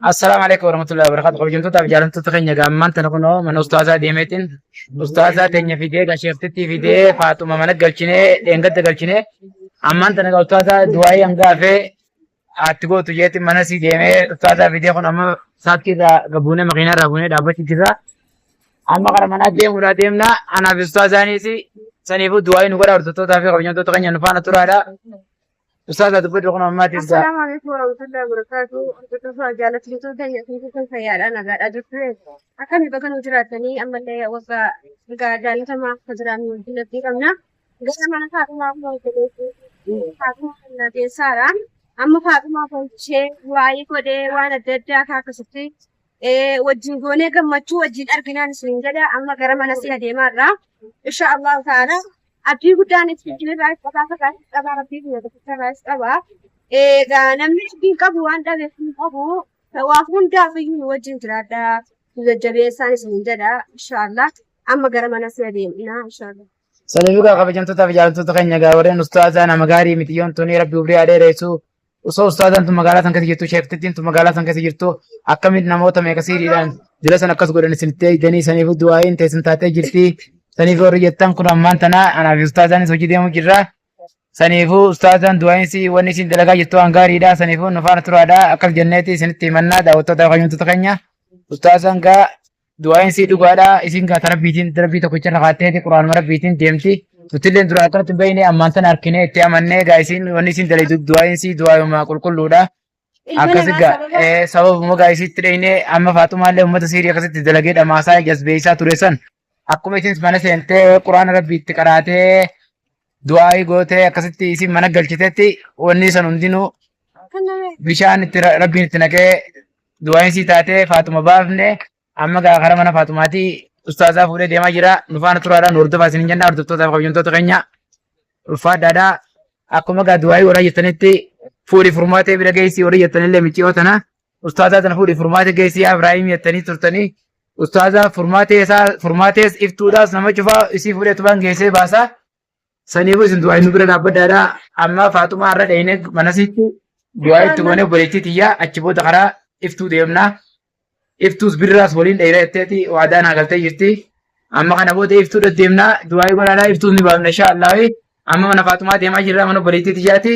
Assalaamu alaikum warahmatullahi wabarakatuh. Kabajamtoota fi jaalattoota keenya gaammaan tana kunoo mana ustaazaa deemeetiin ustaazaa teenya fidee gasheeftittii fidee faatuma mana galchinee dheengadda galchinee ammaan tana egaa ustaazaa du'aayii hangaafee atti gootu jeetiin mana sii deemee ustaazaa fidee kun amma saattii irraa gabuunee makiinaa irraa buunee dhaabbachuu jirra. Amma gara manaa deemuudhaa deemna anaaf ustaazaaniis saniifuu du'aayii nu godha hordoftootaa fi kabajamtoota keenya nu faana turaadha. Ustaaz ati godhu kun ammaa jirta. Assalaamu alaikum warahmatullahi wabarakatuh. Hordofaa jaalattoota keenya fi kan fayyaadhaan nagaadhaa jirtu. Akkami baga nu jiraattanii ammallee waggaa egaa jaalatamaa akka jiraannu wajjin abdii qabna. Gara mana Faaxumaa kuma hojjeteetti Faaxumaa kana keessaadha. Amma Faaxumaa kun ishee waa'ee godhee waan adda addaa akka akkasitti wajjin goonee gammachuu wajjin arginaan isin jedha amma gara mana si adeemaa irraa insha Allah ta'ala abdii guddaan isin irraa qabaa fakaa qabaa rabbii biyya tokkicha irraa qabaa egaa namni abdiin qabu waan dhabeef hin qabu waa hundaaf iyyuu wajjin jiraadha jajjabeessaan isin jedha insha Allah amma gara mana si adeemna insha Allah. Sanii dhugaa kabajamtootaa fi jaalattoota keenya egaa warreen ustaazaa nama gaarii miti yoon tunii rabbi umrii haa dheeressu Osoo ustaazaan tun magaalaa san keessa jirtu sheektittiin tun magaalaa san keessa jirtu akkamitti namoota meeqa siiriidhaan jira san akkas godhan isinitti eegdanii saniif du'aa'iin teessan taatee jirti. Saniif warri jettan kun ammaan tana anaaf ustaazaanis hojii deemuu jirra. Saniifuu ustaazaan du'aa'iin si wanni isin dalagaa jirtu waan gaariidha. Saniifuu nu faana turaadha. Akkas jenneeti isinitti himannaa daawwattoota fayyumtoota keenya. Ustaazaan gaa du'aayin sii dhugaadha isin gaata rabbiitiin rabbii tokkicha irra kaatteeti quraanuma rabbiitiin deemti nutilleen dura akkanatti hin beekne ammaan tana harkinee itti amannee gaa isin wanni isin daleedu du'aayin sii du'aayuma qulqulluudha Ilma akkasi namaa gaa sababa eh, sababuma gaa isitti dheyne amma faaxumaallee uummata siirii akkasitti dalagee dhamaasaa jasbeessaa ture san akkuma isin mana seentee quraana rabbiitti qaraatee du'aa'ii gootee akkasitti isin mana galchitetti wanni san hundinuu bishaan itti ra- rabbiin itti naqee du'aa'iin sii taatee faatuma baafne amma gaa karaa mana faatumaati ustaazaa fuudhee deemaa jira nufaana turaadhaan hordofaa isin jenna hordoftootaaf kabajamtoota keenya ulfaadhaadhaa akkuma gaa du'aa'ii warra jettanitti fuudhi furmaatee bira geessii warra jettanillee miciyoo tana ustaazaa tana fuudhi furmaatee geessii yaa Ibraahim jettanii turtanii Ustaazaa furmaatee isaa furmaatees iftuudhaas nama cufaa isii fuudhee tubaan geessee baasaa. Saniifuu isin du'aa inni bira dhaabbadhaadha. Amma faaxumaa irra dhayne manasiitti du'aa itti goone obboleettii tiyyaa achi booda karaa iftuu deemna. Iftuus birraas waliin dhayna jetteeti waadaan haagaltee jirti. Amma kana booda iftuu deddeemna du'aa godhaadha iftuus ni baafna inshaa Allaahi. Amma mana faaxumaa deemaa jirra mana obboleettii tiyyaati.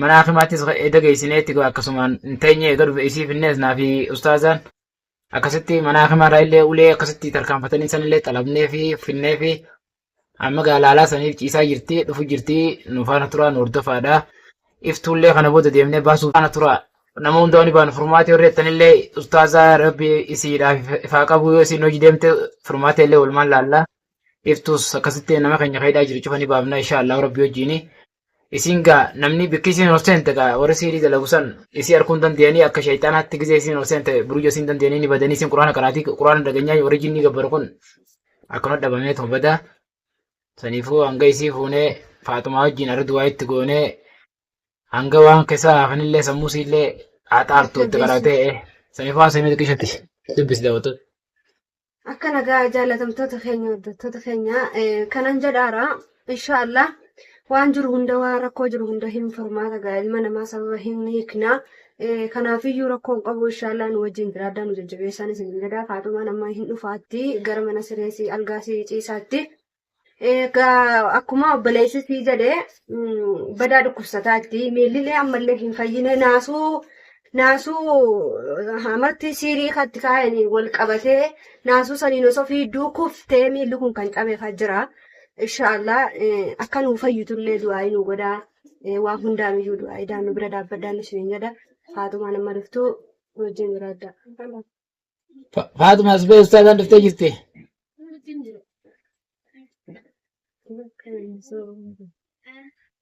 mana hakimaattis eeda geessineetti akkasumaan hin teenye eega dhufe isii finnees naa fi ustaazaan akkasitti mana hakimaarraa illee ulee akkasitti tarkaanfatanii sanillee xalabnee fi finnee fi amma gaalaalaa saniif ciisaa jirti dhufu jirti nu faana turaa nu hordofaadha iftuullee kana booda deemnee baasuu faana turaa nama hundaa ni baanu furmaatee warri jettanillee ustaazaa rabbi isiidhaaf ifaa qabu yoo isiin hojii deemte furmaatee illee walumaan laallaa iftuus akkasitti nama keenya kaayidhaa jiru cufa ni baafna insha allahu rabbi wajjiini Isiin gaa namni bikki isiin ol seente gaa warri siirii dalagu san isii arguu hin dandeenyanii akka shayxaanaatti gizee isiin ol seente burujuu isiin dandeenyanii ni badanii isiin quraana qaraatii quraana dhageenyaa warri jinnii gabbaru kun akkana dhabamee tuma badaa saniifuu hanga isii fuunee faaxumaa wajjin arri duwaa itti goonee hanga waan keessaa hafanillee sammuu siillee haxaartu itti qaraatee saniifuu waan sanii xiqqishatti dubbisi daawwattoota. Akka nagaa jaalatamtoota keenya hordoftoota keenya kanan jedhaara insha Allah waan jiru hunda waan rakkoo jiru hunda hin furmaata gaa ilma namaa sababa hin hiikna kanaafiyyuu rakkoon qabu insha Allah nu wajjin jiraadhaa nu jajjabeessaan isin jedhaa faatumaan amma hin dhufaatti gara mana sireesii algaasii ciisaatti Egaa akkuma obboleessi sii jedhe mm, badaa dhukkubsataa itti miillilee ammallee hin fayyine naasuu naasuu eh, amatti siirii katti kaayanii wal qabatee naasuu saniin osoo fiidduu kuftee miilli kun kan cabeefaa jira. Inshaallah eh, akka nuu fayyitullee du'aa nu godhaa Eh, waan hundaan iyyuu du'aa idaan nu bira dhaabbadhaan isiniin jedha. Haatumaan amma dhuftuu wajjin jiraadha. Fa- Faatuma as ba'e ustaazaan dhuftee jirti.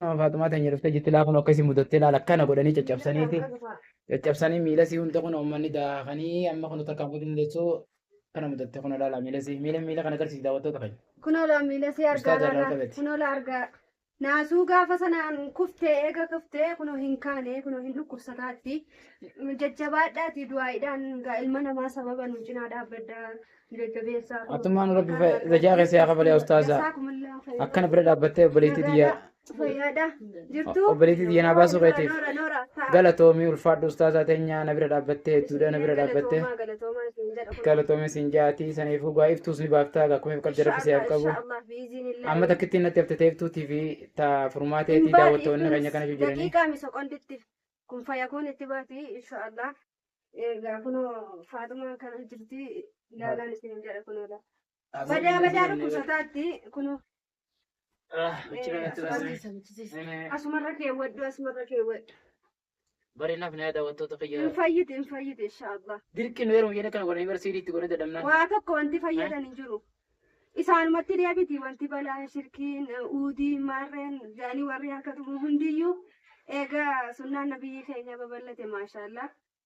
Amma Faatumaa teenya dhuftee jirti laa kun akka isin mudattee laala akkana godhanii caccabsaniiti. Caccabsanii miila isii hunda kun uummanni daakanii amma kun takkaan godhin deessu kana mudatte kun laala miila isii miila miila kana agarsiisi daawwattoota keenya. Kunoo laa miila si argaa Ustaaza irraa laala. qabate. Kunoo laa argaa. Naasuu gaafa sanaan kuftee eega kuftee kunoo hin kaane kunoo hin dhukkubsataatti jajjabaadhaati du'aaidhaan gaa ilma namaa sababa nu cinaa dhaabbaddaa nu jajjabeessaa. Atummaan rabbi fa- zajaa keessa yaa kabalee ustaaza. Jazaakumullaahu khayran. Akkana bira dhaabbattee obboleettii tiyya Fayyaadha. Jirtuu? obboleettii tiyya naa baasuu Noora, keetiif noora, noora. Ta'a. galatoomii ulfaadhu ustaazaa teenyaa na bira dhaabbattee hedduudha na bira dhaabbattee Galatoomaa, galatoomaa isin jedha kun. galatoomii siin jaatii saniif hugaa iftuus ni baaftaa akkuma if qabde rabbi si haa qabu. Inshallah, inshallah. biiziinillah. Amma takkittiin natti hafte teeftuu TV ta furmaatee Hin tii baati daawwattoonni keenya kunis kana iyyuu jiranii. daqiiqaa mi soqonditti kun fayakuun itti baati inshaallah. Egaa kunoo faaxumaan kana jirti ilaalaan isin hin jedha kunoodha. Badaa badaa dhukkubsataatti kunoo. Asumarra keewwadhu asumarra keewwadhu. Bari naf na daawwattoota kiyya. Hin fayyiti hin fayyiti insha Allah. Dirqi nu heerumu jennee kana godhanii bara siidii itti godhee dadhabnaan. Waa tokko wanti fayyadan hin jiru. Isaanumatti deebiti wanti balaan shirkiin uudii maarreen jaanii warri harka tumu hundiyyuu egaa sunnaan nabiyyii keenya babal'ate maashaallah.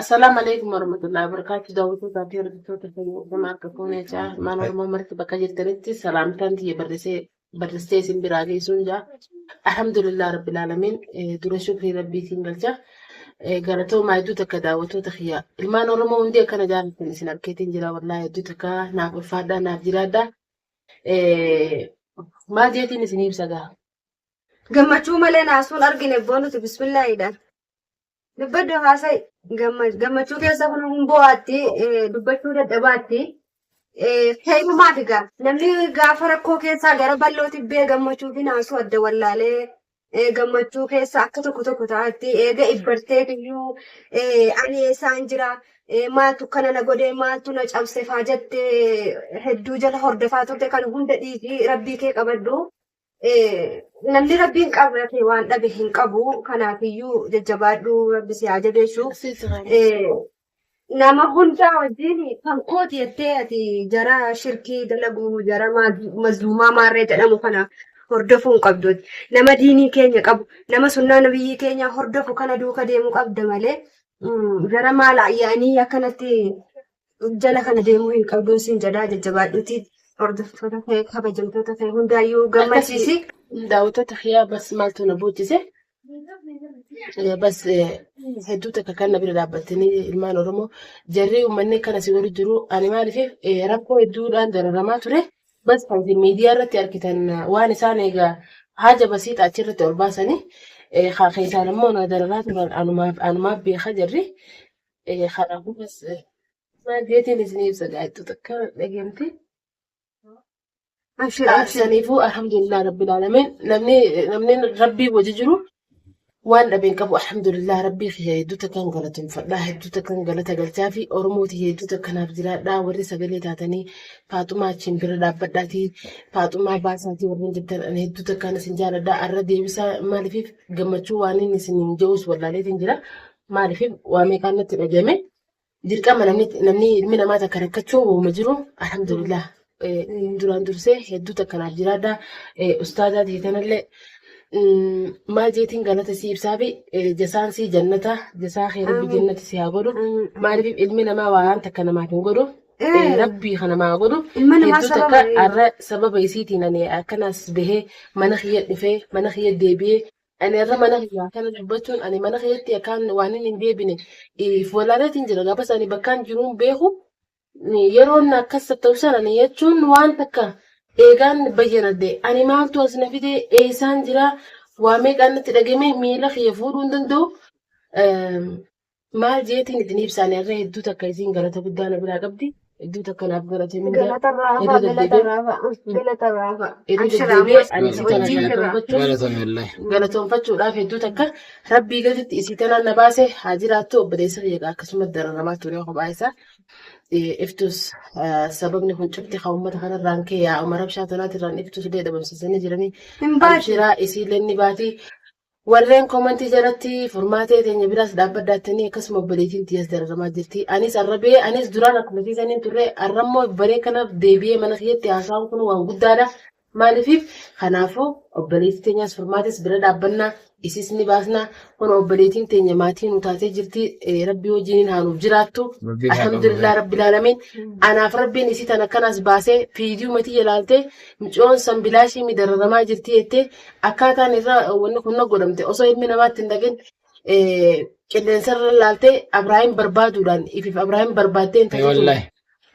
Assalamu alaikum warahmatullahi wabarakatuh. Daawwattoota fi hordoftoota keenya gama akka fuunee jaa ilmaan Oromoo marti bakka jirtanitti salaamtaan tiyya barrisee barristee isin biraa geessuun jaa. Alhamdulillah rabbil alamin dura shukrii rabbiitiin galcha. Galatoomaa hedduu takka daawwattoota kiyya. Ilmaan Oromoo hundi akkana jaalatan isin arkeetiin jira wallaahi hedduu takka naaf ulfaadhaa naaf jiraadhaa. Maal jeetiin isin ibsa gaa? Gammachuu malee naasuun argine boonuti bismillaahiidhaan. Dubbadhu haasa'i. Gamma- Gammachuu keessa kun hin boo'aatti, eh, dubbachuu dadhabaatti. Eh, Heerumaaf egaa namni gaafa rakkoo keessaa gara bal'oo tibbee gammachuu fi naasuu adda wallaalee eh, gammachuu keessa akka tokko tokko ta'atti eega ibbartee iyyuu eh, ani eessaan jira eh, maaltu kana na godhe maaltu na cabse faa jette hedduu jala hordofaa turte kan hunda dhiisii rabbii kee qabadhu. namni rabbiin qabrate waan dhabe hin qabu kanaafiyyuu jajjabaadhuu rabbi si haa jabeessu nama hundaa wajjin kan kooti jettee ati jara shirkii dalagu jara mazluumaa maarree jedhamu kana hordofuu hin qabdu nama diinii keenya qabu nama sunnaa nabiyyii keenya hordofu kana duuka deemuu qabda malee jara maal ayyaanii akkanatti jala kana deemuu hin qabduun siin jedhaa jajjabaadhuutii hordoftoota kee kabajamtoota kee hundaayyuu gammachiisi. Daawwattoota kiyyaa bas maaltu na boochise Eh, bas eh, hedduu takka kan na bira dhaabbattanii ilmaan Oromoo jarri uummanni kan asii wali jiru ani maaliif eh, rakkoo hedduudhaan dararamaa ture bas kan isin miidiyaa irratti argitan eh, waan isaan egaa haja basiidha achirratti ol baasanii eh, haa keessaan immoo na dararaa turan anumaaf anumaaf beeka jarri Ee, Kanaafuu bas maageetiin isinii ibsa gaa'ettu takka dhageemti. Abshir abshir. Saniifuu alhamdulillah rabbil alamin namni namni rabbii wajji jiru waan dhabe hin qabu alhamdulillah rabbii kiyya hedduu takkaan galateeffadha hedduu takkaan galata galchaa fi oromooti hedduu takkanaaf jiraadha warri sagalee taatanii faaxumaa achiin bira dhaabbadhaatii faaxumaa baasaatii warri hin jettan ani hedduu takkaan isin jaaladha arra deebisaa maaliif gammachuu waan inni isin hin je'us wallaaleetiin jira Maaliif waa meeqaan natti dhagahame dirqama namni namni ilmi namaa takka rakkachuu wauma jiru alhamdulillah Eh, duraan dursee hedduu takka naaf jiraadha Eh, ustaazaa ta'e kanallee mm, maal jeetiin galata si ibsaa fi eh, jasaan si jannata jasaa kee rabbi Amiin. jannata si haa godhu Amiin. maaliif ilmi namaa waan takka namaaf hin godhu Eh, Eh. rabbii kana maa godhu Ilma namaa hedduu sababa takka hin- arra sababa isiitiin ani akkanas bahee mana kiyya dhufee mana kiyya deebi'ee Ani har'a mana kiyya akkana dubbachuun ani mana keessatti akkaan waan inni hin deebine if walaaneetiin jira gaafa isaanii bakkaan jiruun beeku yeroo inni akkas ta'u sana ni jechuun waan takka eegaan bayyanadde ani maaltu as na fide eessaan jira waa meeqaan natti dhagame miila kiyya fuudhuu hin danda'u Maal jeetiin itti ni ibsaani harree hedduu takka isiin galata guddaa na biraa qabdi. Hedduu takka naaf galate mindaa. Galata irraa hafaa, Irra galata deddeebi'ee- irraa hafaa, galata irraa hafaa. Irra Abshira, deddeebi'ee ammas ani isii kana wajjin jirra. galatoonfachuuf Galatoomi wallahi. galatoonfachuudhaaf hedduu takka rabbii gaditti isii tanaan na baase haa jiraattu obboleessa kiyya egaa akkasuma dararamaa ture kophaa isaa Eh, iftus eh, sababni kun cufti kan uummata kanarraan kee yaa umar abshaa tanaatirraan iftus illee dhabamsiisanii jiranii Hin baatu. abshiraa isiillee ni baati Warreen komantii jalatti furmaatee teenya biraas dhaabbadda jettanii akkasuma obboleettiin tiyyaas dararamaa jirti. Anis arrabee anis duraan akkuma isii saniin turre arrammoo baree kanaaf deebi'ee mana kiyyatti haasaan kun waan guddaadha. Maaliif kanaafuu obboleettii teenyaas furmaates bira dhaabbannaa isis ni baasnaa kun obboleettiin teenya maatii nu taatee jirti rabbii wajjiniin haa nuuf jiraattu. Alhamdulillah rabbi laalamiin anaaf rabbiin isii tan akkanaas baasee fiidiyuu matii jalaaltee micoon san bilaashii midararamaa jirti jettee Akkaataan isaa wanni kun godhamte osoo ilmi namaatti hin dhaqin qilleensarra laaltee Abiraahim barbaaduudhaan ifiif Abiraahim barbaaddee hin taatu. Wallahi.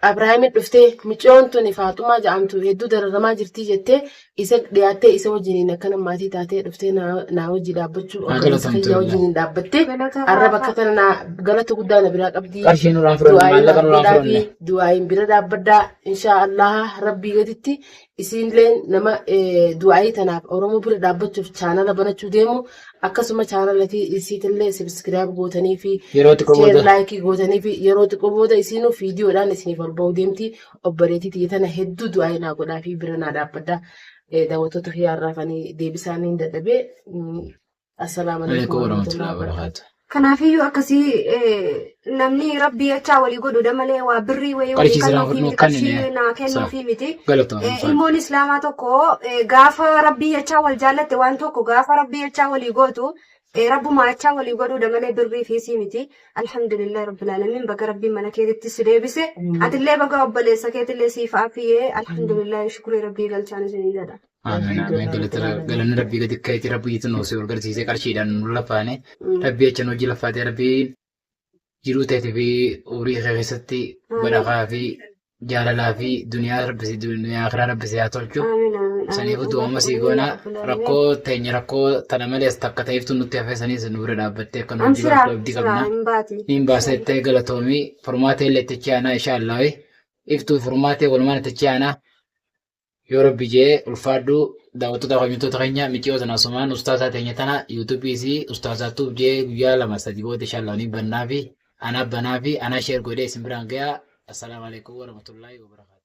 Abiraahimi dhuftee micoon tuni Faaxumaa ja'amtu hedduu dararamaa jirtii jettee isa dhiyaattee isa wajjiniin akkana maatii taatee dhuftee naa- naa wajji dhaabbachuu Haa obboleessa galatamtu kiyya wallahi. wajjiniin dhaabbattee Galata arra Waaqa. bakka tana naa- galata guddaa na biraa qabdii. Qarshii nurraa fudhanne, Du'aa'iin maallaqa nurraa godhaafii, fudhanne. Du'aa'iin bira dhaabbaddaa inshaa Allaha rabbii gaditti isiinleen nama du'aayii tanaaf Oromoo bira dhaabbachuuf chaanala banachuu deemu akkasuma chaanala isiitillee sabiskiraayib gootanii fi Yeroo xiqqoo sheer booda. laayikii gootanii fi yeroo xiqqoo booda isiinuu viidiyoodhaan isiniif ol ba'uu deemti obboleetii tiyya tana hedduu du'aayii naa godhaa fi bira naa dhaabbadha daawwattoota kiyyaa irraa kan deebisaa niin dadhabee Assalaamu alaikum Alaikum warahmatullahi warahmatullahi wabarakatuh. wabarakatuh. Kanaafiyyuu akkasii eh, namni rabbii achaa walii godhuudha malee waa birrii wayii walii Qarshii siraan kannuufii fudhannoo miti kan inni qarshii naa kennuufii miti. Galatoomi Eh, ulfaadhu. Ilmoon islaamaa tokko eh, gaafa rabbii achaa wal jaallatte waan tokko gaafa rabbii achaa walii gootu eh, rabbuma achaa walii godhuudha malee birrii fiisii miti. Alhamdulillah rabbil alamin baga rabbiin mana keetitti si deebise. Atillee baga obboleessa keetillee siif aafiyee alhamdulillah shukrii rabbii galchaan isinii jedha. Amiin amiin galatara galanni rabbii gadi ka'eeti rabbii itti nu si garsiisee qarshiidhaan nu lafaane rabbii acha nu hojii lafaatee rabbii jiruu teetii fi horii kee keessatti badhakaa fi jaalalaa fi duniyaa rabbi si duniyaa kiraa rabbi si haa tolchu sanii fi du'ooma sii goona rakkoo teenya rakkoo tana malees takka ta'eeftu nutti hafee saniis nu bira dhaabbattee akka nu hojii Amshiraa lafaatu abdii qabna. amshiraa hin baati. Niin baasettee galatoomii furmaatee illee itti aanaa ishaallaawee iftuu furmaatee walumaan itti aanaa Yoo rabbi jee ulfaadhu daawwattoota kabajamtoota keenya miciyoo tana asumaan ustaazaa teenya tana yuutuubii isii ustaazaa tuub jee guyyaa lama sadi booda inshaallaa ni bannaafi anaa banaafi anaa sheer godhee isin biraan gayaa assalaamu alaikum warahmatullaahi wabarakaatu.